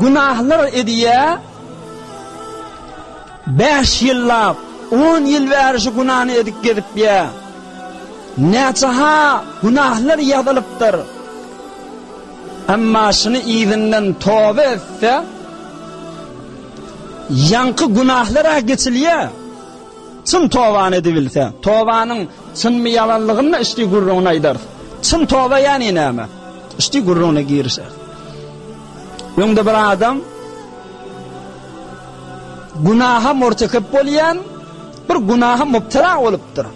Günahlar edýä. Bäş ýyllap, on ýyl bäri şu günany edip gezipýä. Näçe-ha günahlar ýazylypdyr. Emma şuny yzyndan toba etse, ýaňky günahlar-a geçilýä. Çyn tobany edibilse, tobanyň Çynmy ýalanlygyny içdi gürrüňini aýdarys. Çyn toba ýany näme? Içdi gürrüňine girişeris. Öňde bir adam günaha murtekep bolýan bir günaha mubtala bolupdyr.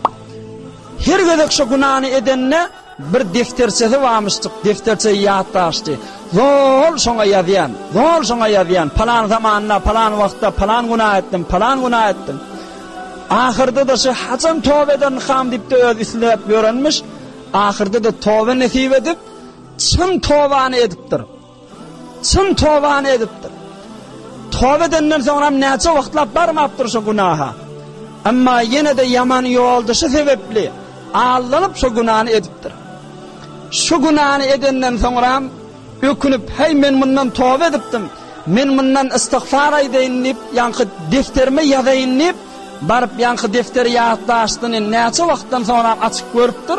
Her gezek şu günany edende Bir defterçesi barmyşdyk, defterçe ýatdaşdy. Zol şoňa ýazýan, zol şoňa ýazýan, palan zamanda, palan wagtda, palan günä etdim, palan günä etdim. Ahyrda-da şu haçan toba edermikam diýip-de özi isläp ýörenmiş, ahyrda-da toba nesip edip, çyn tobany edipdir. Çyn tobany edipdir. Toba edenden soňram näçe wagtlap barmapdyr şo günaha. Emma ýene-de ýaman ýoldaşy sebäpli aldanyp şo günany edipdir. Şu günany edenden soňram ökünip, Heý, men mundan toba edipdim. Men mundan ystigfar aýdaýyn diýip, ýaňky defterime ýazaýyn diýip, baryp ýaňky defteri ýatlaşdyny näçe wagtdan soňram açyp görüpdir.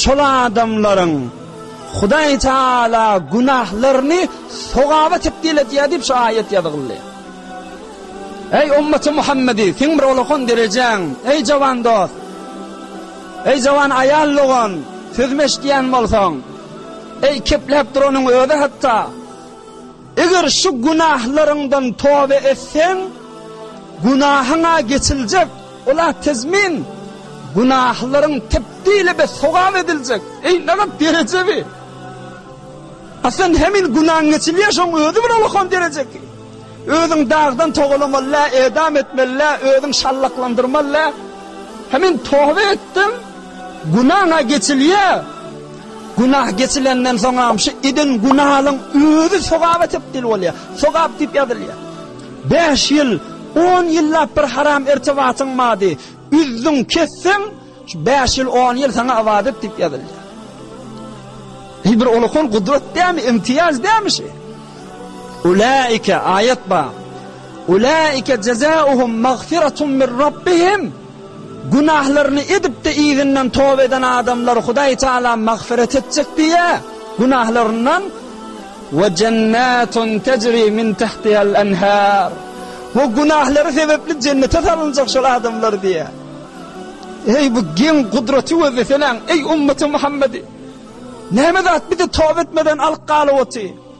Şol adamlaryň Hudaý Taala günahlaryny sogaba tebdil edýär diýip şu aýat ýazgyldy. Eý ümmaty Muhammedi, seň bir olakan derejäň, eý jawan dost. Eý jawan aýal dogan, sözümi eşidýän bolsaň, eý kepläp duranyň özi hatda Eger şu günahlaryňdan toba etseň, günahyň-a geçiljek, ol-a tezmin, günahlaryň tebdil we sogap ediljek. Eý, nähak dereje bi! Aslan hemin günaň geçilýär, şoň özi bir ullakan dereje ki. Özüň dagdan togalamaly-ä, edam etmeli-ä, özüň şallaklandyrmaly-ä. Hemin toba etdiň, günaň-a geçilýär. Günah geçilenden soňam şu eden günalyň özi sogaba tebdil bolýar. Sogap diýip ýazylýar. Bäş ýyl, on ýyllap bir haram irtibatyň bardy. Üzdüň, kesseň, şu bäş ýyl, on ýyl saňa ybadat diýip ýazylýar. Eý, bir ulkan gudrat dämi, imtiýaz dämi şu? Ulaika aýat bar. Ulaika jazaohum magfiratun min Rabbihim. Günahlaryny edip-de yzyndan toba eden adamlary Hudaý Tagala magfyrat etjek diýýär, günahlaryndan we jennatun tejri min tahtihal enhar we günahlary sebepli jennete salynjak şol adamlar diýýär. Eý bu geň gudraty gözleseläň, eý ümmaty Muhammedi! Näme zat bizi toba etmeden alyp galyp otyr?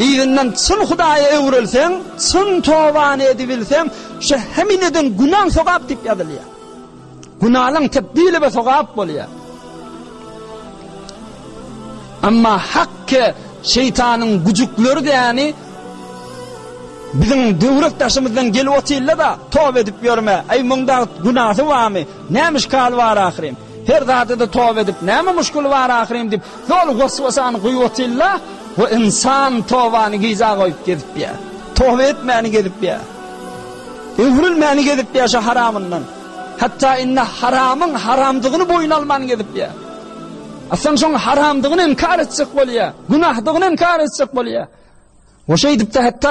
Yzyndan çyn Hudaýa öwrülseň, çyn tobany edibilseň, şu hemil eden günaň sogap diýip ýazylýar. Günalaň tebdili we sogap bolýar. Amma hakki şeytanın gücükleri däni biziň döwrek daşymyzdan gelip otyrlar da, tob edip ýörme, eý munda günasy barmy, nämiş kaly bar ahyryn. Her zada-da toba edip, näme muşkuly bar ahyryn diýip, doly waswasany guýup otyrlar we ynsan tobany gyza goýup gezip ýör. Toba etmäni gezip ýör. Öwrülmäni gezip ýör şu haramyndan. Hatda indi haramyň haramdygyny boýun alman gezip ýör. Aslynda şoň haramdygyny inkar etjek bolýar, günahdygyny inkar etjek bolýar. We şeýdip-de hatda